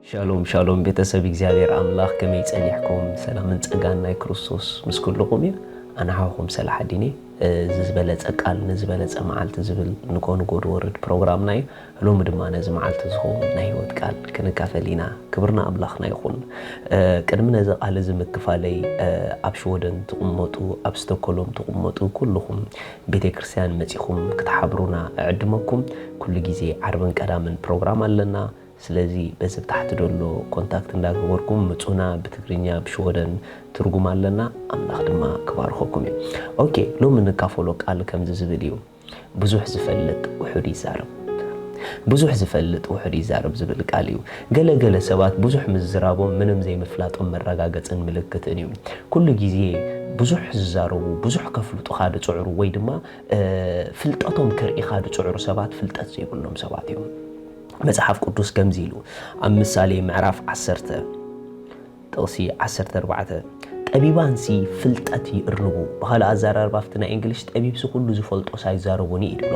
ሻሎም ሻሎም ቤተሰብ እግዚኣብሔር ኣምላኽ ከመይ ጸኒሕኩም ሰላምን ጸጋን ናይ ክርስቶስ ምስ ኩልኹም እዩ ኣነ ሓውኹም ሰላሓዲን እየ እዚ ዝበለጸ ቃል ንዝበለጸ መዓልቲ ዝብል ንጎ ንጎ ድወርድ ፕሮግራምና እዩ ሎሚ ድማ ነዚ መዓልቲ ዝኸውን ናይ ህይወት ቃል ክንካፈል ኢና። ክብሪ ንኣምላኽና ይኹን። ቅድሚ ነዚ ቃል እዚ ምክፋለይ ኣብ ሽወደን ትቕመጡ ኣብ ስቶኮሎም ትቕመጡ ኩሉኹም ቤተ ክርስትያን መጺኹም ክትሓብሩና እዕድመኩም። ኩሉ ግዜ ዓርብን ቀዳምን ፕሮግራም ኣለና። ስለዚ በዚ ኣብ ታሕቲ ዘሎ ኮንታክት እንዳ ገበርኩም ምጹና ብትግርኛ ኣብ ሽወደን ትርጉም ኣለና። ኣምላኽ ድማ ክባርኸኩም እዩ። ኦኬ ሎሚ እንካፈሎ ቃል ከምዚ ዝብል እዩ። ብዙሕ ዝፈልጥ ውሑድ ይዛረብ ብዙሕ ዝፈልጥ ውሑድ ይዛረብ ዝብል ቃል እዩ። ገለ ገለ ሰባት ብዙሕ ምዝራቦም ምንም ዘይምፍላጦም መረጋገጽን ምልክትን እዩ። ኩሉ ግዜ ብዙሕ ዝዛረቡ፣ ብዙሕ ከፍልጡኻ ዝጽዕሩ ወይ ድማ ፍልጠቶም ከርእኻ ዝጽዕሩ ሰባት ፍልጠት ዘይብሎም ሰባት እዮም። መጽሓፍ ቅዱስ ከምዚ ኢሉ ኣብ ምሳሌ ምዕራፍ ዓሰርተ ጥቕሲ ዓሰርተ ኣርባዕተ፣ ጠቢባንሲ ፍልጠት ይእርቡ፣ ብኻልእ ኣዘራርባ ኣብቲ ናይ እንግሊሽ ጠቢብሲ ኩሉ ዝፈልጦስ ኣይዛረቦን እዩ ኢሉ'ሎ።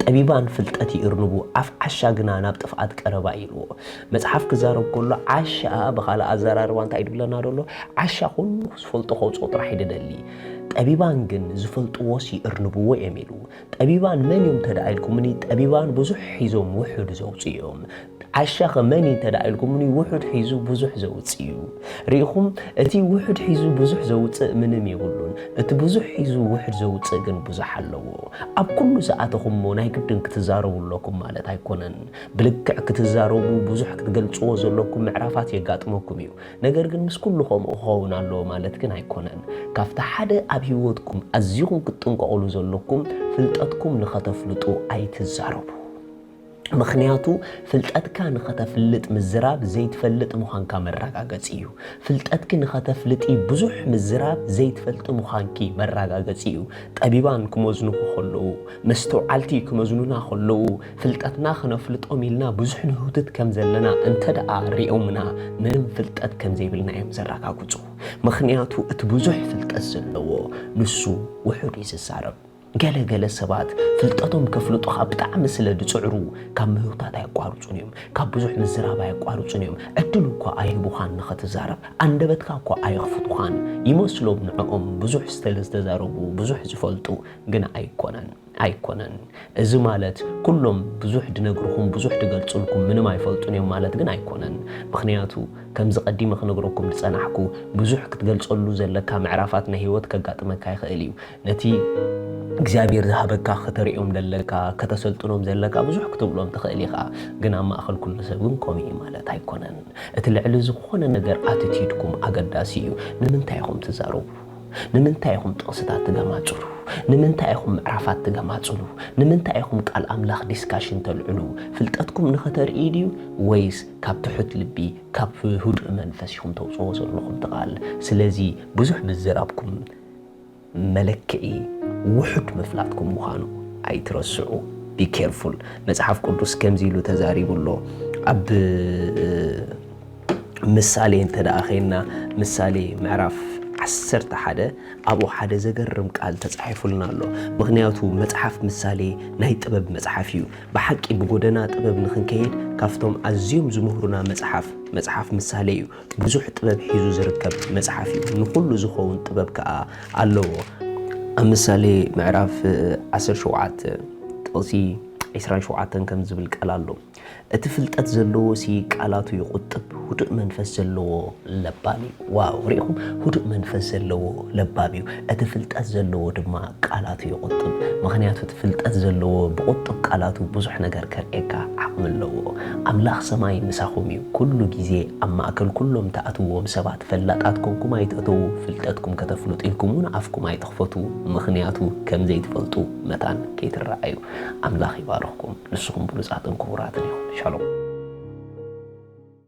ጠቢባን ፍልጠት ይእርቡ፣ ኣፍ ዓሻ ግና ናብ ጥፍኣት ቀረባ እዩ ኢልዎ። መጽሓፍ ክዛረብ ከሎ ዓሻ ብኻልእ ኣዘራርባ እንታይ ድብለና ደሎ? ዓሻ ኩሉ ዝፈልጦ ከውጽኦ ጥራሕ እዩ ድደሊ። ጠቢባን ግን ዝፈልጥዎስ ይእርንብዎ እዮም ኢሉ። ጠቢባን መን እዮም እንተድኣ ኢልኩምኒ ጠቢባን ብዙሕ ሒዞም ውሑድ ዘውጽኡ እዮም። ዓሻኸ መን እዩ እንተ ኢልኩምኒ ውሑድ ሒዙ ብዙሕ ዘውፅእ እዩ። ርኢኹም እቲ ውሑድ ሒዙ ብዙሕ ዘውፅእ ምንም የብሉን፣ እቲ ብዙሕ ሒዙ ውሕድ ዘውፅእ ግን ብዙሕ ኣለዎ። ኣብ ኩሉ ዝኣተኹሞ ናይ ግድን ክትዛረቡ ኣለኩም ማለት ኣይኮነን። ብልክዕ ክትዛረቡ ብዙሕ ክትገልፅዎ ዘለኩም ምዕራፋት የጋጥመኩም እዩ። ነገር ግን ምስ ኩሉ ከምኡ ክኸውን ኣለዎ ማለት ግን ኣይኮነን። ካብቲ ሓደ ኣብ ህይወትኩም ኣዚኹም ክትጥንቀቕሉ ዘለኩም ፍልጠትኩም ንኸተፍልጡ ኣይትዛረቡ። ምኽንያቱ ፍልጠትካ ንኸተፍልጥ ምዝራብ ዘይትፈልጥ ምዃንካ መራጋገጺ እዩ። ፍልጠትኪ ንኸተፍልጢ ብዙሕ ምዝራብ ዘይትፈልጢ ምዃንኪ መራጋገጺ እዩ። ጠቢባን ክመዝኑኺ ከለዉ፣ መስተውዓልቲ ክመዝኑና ከለዉ፣ ፍልጠትና ክነፍልጦም ኢልና ብዙሕ ንህውትት ከም ዘለና እንተድኣ ርእዮምና ምንም ፍልጠት ከም ዘይብልና እዮም ዘራጋግጹ። ምኽንያቱ እቲ ብዙሕ ፍልጠት ዘለዎ ንሱ ውሑድ እዩ ዝዛረብ። ገለ ገለ ሰባት ፍልጠቶም ከፍልጡ ኸኣ ብጣዕሚ ስለ ዝጽዕሩ ካብ ምህውታት ኣየቋርጹን እዮም። ካብ ብዙሕ ምዝራብ ኣየቋርጹን እዮም። ዕድል እኳ ኣይህቡኻን ንኸትዛረብ። ኣንደበትካ እኳ ኣየኽፍቱኻን። ይመስሎም ንዕኦም ብዙሕ ስለ ዝተዛረቡ ብዙሕ ዝፈልጡ። ግን ኣይኮነን። ኣይኮነን። እዚ ማለት ኩሎም ብዙሕ ዝነግሩኹም ብዙሕ ዝገልጹልኩም ምንም ኣይፈልጡን እዮም ማለት ግን ኣይኮነን። ምኽንያቱ ከምዚ ቀዲመ ክነግረኩም ዝጸናሕኩ ብዙሕ ክትገልጸሉ ዘለካ ምዕራፋት ናይ ህይወት ከጋጥመካ ይኽእል እዩ። ነቲ እግዚኣብሔር ዝሃበካ ከተርእዮም ዘለካ ከተሰልጥኖም ዘለካ ብዙሕ ክትብሎም ትኽእል ኢኻ ግን ኣብ ማእኸል ኩሉ ሰብ ግን ከምኡ እዩ ማለት ኣይኮነን እቲ ልዕሊ ዝኾነ ነገር ኣትቲድኩም ኣገዳሲ እዩ ንምንታይ ኢኹም ትዛረቡ ንምንታይ ኢኹም ጥቕስታት ትገማጽሉ ንምንታይ ኢኹም ምዕራፋት ትገማጽሉ ንምንታይ ኢኹም ቃል ኣምላኽ ዲስካሽን ተልዕሉ ፍልጠትኩም ንኸተርኢ ድዩ ወይስ ካብ ትሑት ልቢ ካብ ህዱእ መንፈስ ኢኹም ተውፅዎ ዘለኹም ትቓል ስለዚ ብዙሕ ምዝራብኩም መለክዒ ውሑድ ምፍላጥኩም ምዃኑ ኣይትረስዑ፣ Be careful፣ መጽሓፍ ቅዱስ ከምዚ ኢሉ ተዛሪቡ ኣሎ፣ ኣብ ምሳሌ እንተ ደኣ ዄንና፣ ምሳሌ ምዕራፍ ዓሰርተ ሓደ ኣብኡ ሓደ ዘገርም ቃል ተጻሒፉልና ኣሎ፣ ምኽንያቱ መጽሓፍ ምሳሌ ናይ ጥበብ መጽሓፍ እዩ፣ ብሓቂ ብጐደና ጥበብ ንኽንከይድ ካብቶም ኣዝዮም ዝምህሩና መጽሓፍ፣ መጽሓፍ ምሳሌ እዩ። ብዙሕ ጥበብ ሒዙ ዝርከብ መጽሓፍ እዩ፣ ንኹሉ ዝኸውን ጥበብ ከኣ ኣለዎ። ኣብ ምሳሌ ምዕራፍ ዓሰርተ ሸውዓተ ጥቕሲ ዕስራን ሸውዓተን ከም ዝብል ቃል ኣሎ፣ እቲ ፍልጠት ዘለዎሲ ቃላቱ ይቝጥብ፣ ህዱእ መንፈስ ዘለዎ ለባም እዩ። ዋው! ርኢኹም፣ ህዱእ መንፈስ ዘለዎ ለባም እዩ፣ እቲ ፍልጠት ዘለዎ ድማ ቃላቱ ይቝጥብ። ምኽንያቱ እቲ ፍልጠት ዘለዎ ብቝጡብ ቃላቱ ብዙሕ ነገር ከርእየካ ዓቕሚ ኣለዎ። ኣምላኽ ሰማይ ምሳኹም እዩ። ኩሉ ግዜ ኣብ ማእከል ኩሎም ትኣትውዎም ሰባት ፈላጣት ኮንኩም ኣይትእተዉ ፍልጠትኩም ከተፍልጡ ኢልኩም ውን ኣፍኩም ኣይትኽፈቱ ምኽንያቱ ከም ዘይትፈልጡ መታን ከይትረኣዩ ኣምላኽ ይባርኽኩም ንስኹም ብሉጻትን ክቡራትን ኢኹም ሻሎም።